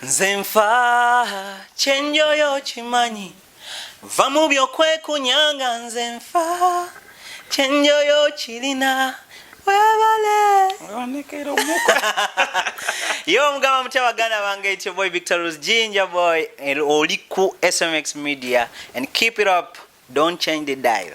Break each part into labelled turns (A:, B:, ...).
A: nze nfa kyenjoyo kimanyi va mu byokwekunyanga nze nfa kyenjoyo kirina webale yo omugamba mutya baganda bange ityo boy victor rose ginger boy oli ku smx media and keep it up don't change the dial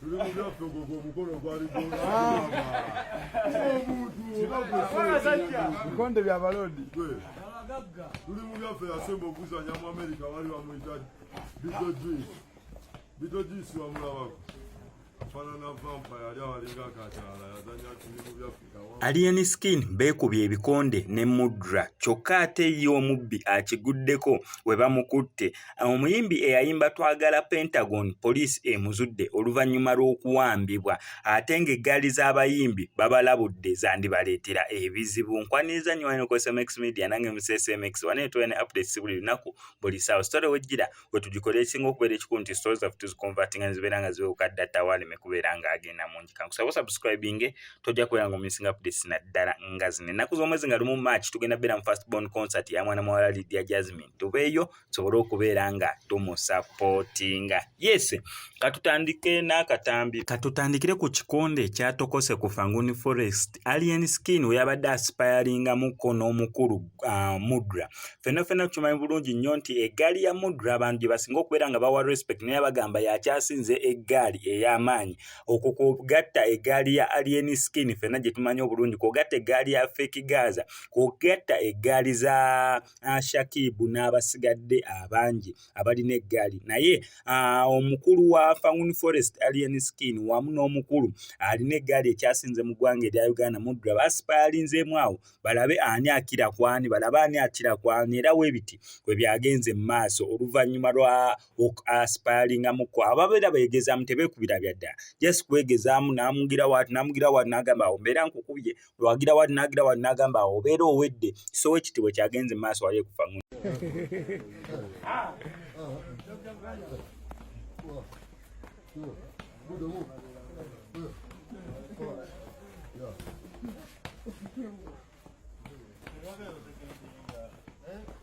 B: tuli mu byaffe ogwo gwe omukolo gwali bikonde bya balodi
C: tuli mu byaffe yasemba okuzanya mu amerika bali bamuyita bito juice bito juice wamulabako afanana vampa yali awalinga akakyala
D: yazanya tuli mu byaffe Alien Skin beekubye ebikonde ne Mudra kyokka ate ye omubbi akiguddeko we bamukutte. Omuyimbi eyayimba Twagala Pentagon poliisi emuzudde oluvannyuma lw'okuwambibwa ate ng'eggaali z'abayimbi babalabudde zandibaleetera ebizibu. Nkwaniriza nnyo wano ku SMX Media nange Museese MX wano ne tubeera ne updates buli lunaku buli ssaawa. Sitore wejjira. bwe tugikola ekisinga okubeera ekikulu nti story zaffe tuzikonvatinga nezibeera nga ziwewuka dda tawaleme kubeera nga agenda mungi kankusaba osubscribinge tojja kubeera nga omisinga updates naddala nga zino ennaku z'omwezi nga lumu march tugenda beera mu first born concert ya mwana muwala lydia jasmine tubeeyo tusobole okubeera nga tumusapootinga yes katutandike n'akatambi katutandikire ku kikonde ekyatokose ku fanguni forest alien skin we yabadde asipayalingamukko n'omukulu uh, mudra fenna fenna tukimanyi bulungi nnyo nti eggaali ya mudra abantu gye basinga okubeera nga bawa respect naye bagamba yakyasinze eggaali ey'amaanyi okwo kwogatta eggaali ya alien skin fenna gye tumanyi obulungi kwogatta eggaali ya feki gaza kwogatta eggaali za uh, shakibu n'abasigadde abangi uh, abalina eggaali naye omukulu wa faun forest alien skin wamu n'omukulu alina eggaali ekyasinze mu ggwanga erya uganda mudra basipayalinzeemu awo balabe ani akira kwani balabe ani akira kwani era webiti kwe byagenze mu maaso oluvannyuma lwa asipayalingamu kwo ababeera beegezaamu tebeekubira byaddala just kwegezaamu n'amugira waati n'amugira waati n'agamba awo mbeera nkukubye lwagira wali nagira wali nagamba awo obeera owedde so ekitibwe kyagenze mu maaso wali ekufa mu Yeah.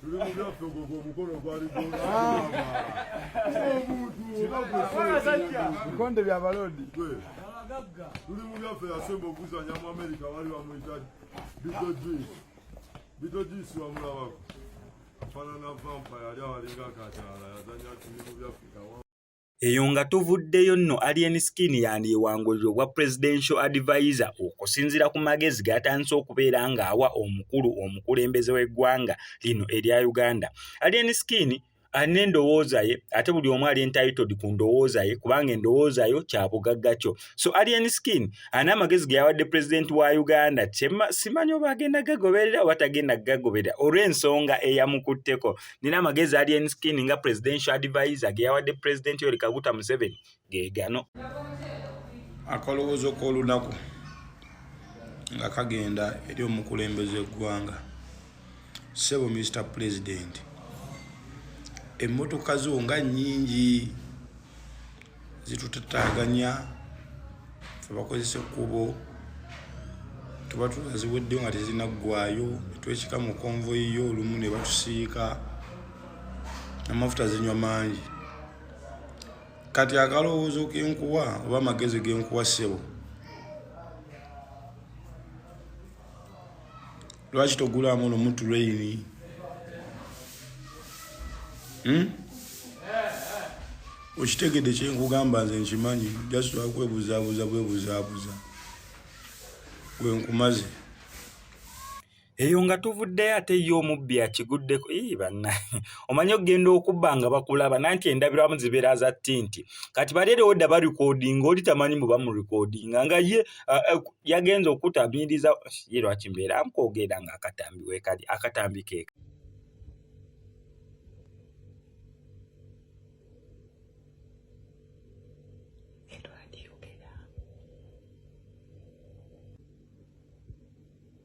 B: tuli mu byaffe ogwo gwe omukono gwali bikonde bya balodi
C: tuli mu byaffe yasemba okuzanya mu amerika wali bamuyita bitojuis bitojuis wamulabako afanana vampa yali awalinga kakyala yazanya tuli mu byaffe Eyo nga
D: tuvuddeyo nno Alien Skin yandyewangulira obwa Presidential Advisor okusinziira ku magezi g'atandise okubeera ng'awa omukulu omukulembeze w'eggwanga lino erya Uganda. Alien Skin alina endowooza ye ate buli omu ali entitled ku ndowooza ye kubanga endowooza yo kya bugagga kyo. So Alien Skin alina amagezi ge yawadde Pulezidenti wa Uganda simanyi oba agenda gagoberera oba tagenda gagoberera olw'ensonga eyamukutteko nina amagezi alien skin nga presidential advisor geyawadde president yoli kaguta museveni gegano
E: akalowoozo k'olunaku nga kagenda eri omukulembeze eggwanga sebo mr president emmotoka zo nga nyingi zitutataganya abakozesa ekkubo tuba tunaziweddeyo nga tezirina ggwayo netwekika mu konvoyi yo olumu ne batusiika amafuta zinywa mangi kati akalowoozo kenkuwa oba amagezi genkuwa ssebo lwaki togulamu no mutu rain hmm? okitegedde kyenkugamba nze nkimanyi just wakwebuzabuza bwebuzabuza wenkumaze
D: eyo nga tuvuddeyo ate ye omubbi akiguddeko ii bannange omanyi okugenda okubba nga bakulaba nanti endabiramu zibeera za tinti kati bali erewo dda barikodinga oli tamanyi mu bamurikodinga nga ye uh, uh, yagenze okutabiriza ye lwaki mbeera mkwogera nga akatambi wekali akatambi keka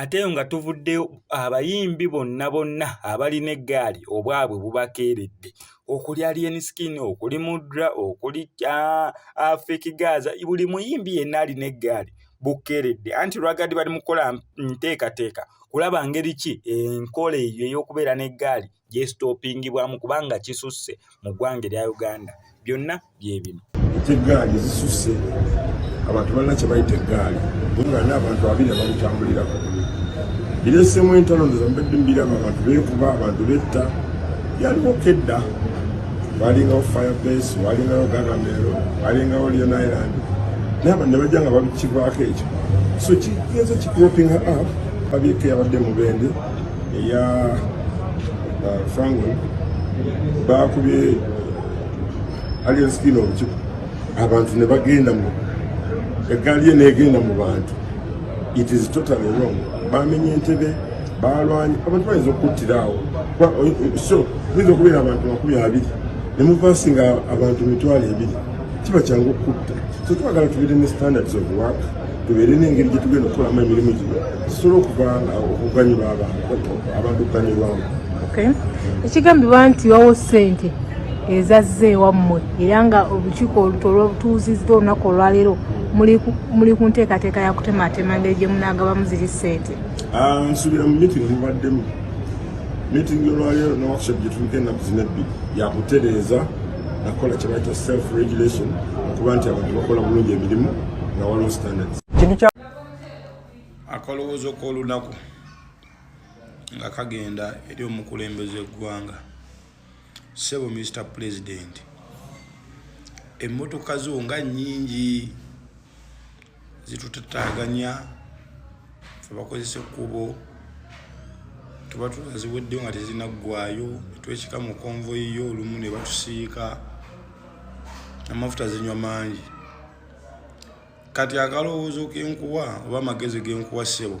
D: ate eyo nga tuvuddeyo abayimbi bonna bonna abalina eggaali obwabwe bubakeeredde okuli alien skin okuli mudra okuli afiki gaza buli muyimbi yenna alina eggaali bukeeredde anti lwagadi bali mu kukola nteekateeka kulaba ngeri ki enkola eyo ey'okubeera n'eggaali gyesitoopingibwamu kubanga kisusse mu ggwanga erya uganda byonna bye bino ate eggaali
C: zisusse abantu balina kye bayita eggaali nga n'abantu abiri ababitambulirako bireesemu entalo ndoza mbadde mbiraba abantu beekuba abantu betta yaliwo kedda walingawo firebase walingawo gagamero walingawo leon island naye abantu ne bajja nga babikibwako ekyo so kigenza kikropinga up babyekeyabadde mubende eya uh, fango bakubye alien skin obukiku abantu ne bagenda mu eggaali ye negenda mu bantu it is totally wrong bamenye entebe balwanye abantu bayinza okuttira awo so oyinza okubeera abantu makumi abiri ne muvaasi nga abantu mitwalo ebiri kiba kyangu okutta so twagala tubeere ne standards of work tubeere n'engeri gye tugenda okukolamu emirimu gino tusobola okuvanga okuganyulwa abantu okuganyulwamu
F: ekigambibwa nti wawo ssente ezazze ewammwe era nga olukiiko oluto olwobutuuzizza olunaku olwaleero muli ku nteekateeka ya kutematema ngeri gye munaagabamu ziri ssente ah, nsuubira mu
C: meeting mubaddemu meeting olwaleero ne workshop gye tuliko ennaku zina ebbiri yakutereeza nakola kyebayita self regulation okuba nti abantu bakola bulungi emirimu nga waliwo standards
E: akalowoozo k'olunaku nga kagenda eri omukulembeze eggwanga sebo mr president emmotoka zo nga nnyingi zitutataganya abakozesa ekkubo tuba tuziweddeyo nga tezinaggwayo netwekika mu konvoyi yo olumu ne batusiika amafuta zinywa mangi kati akalowoozo kenkuwa oba amagezi genkuwa ssebo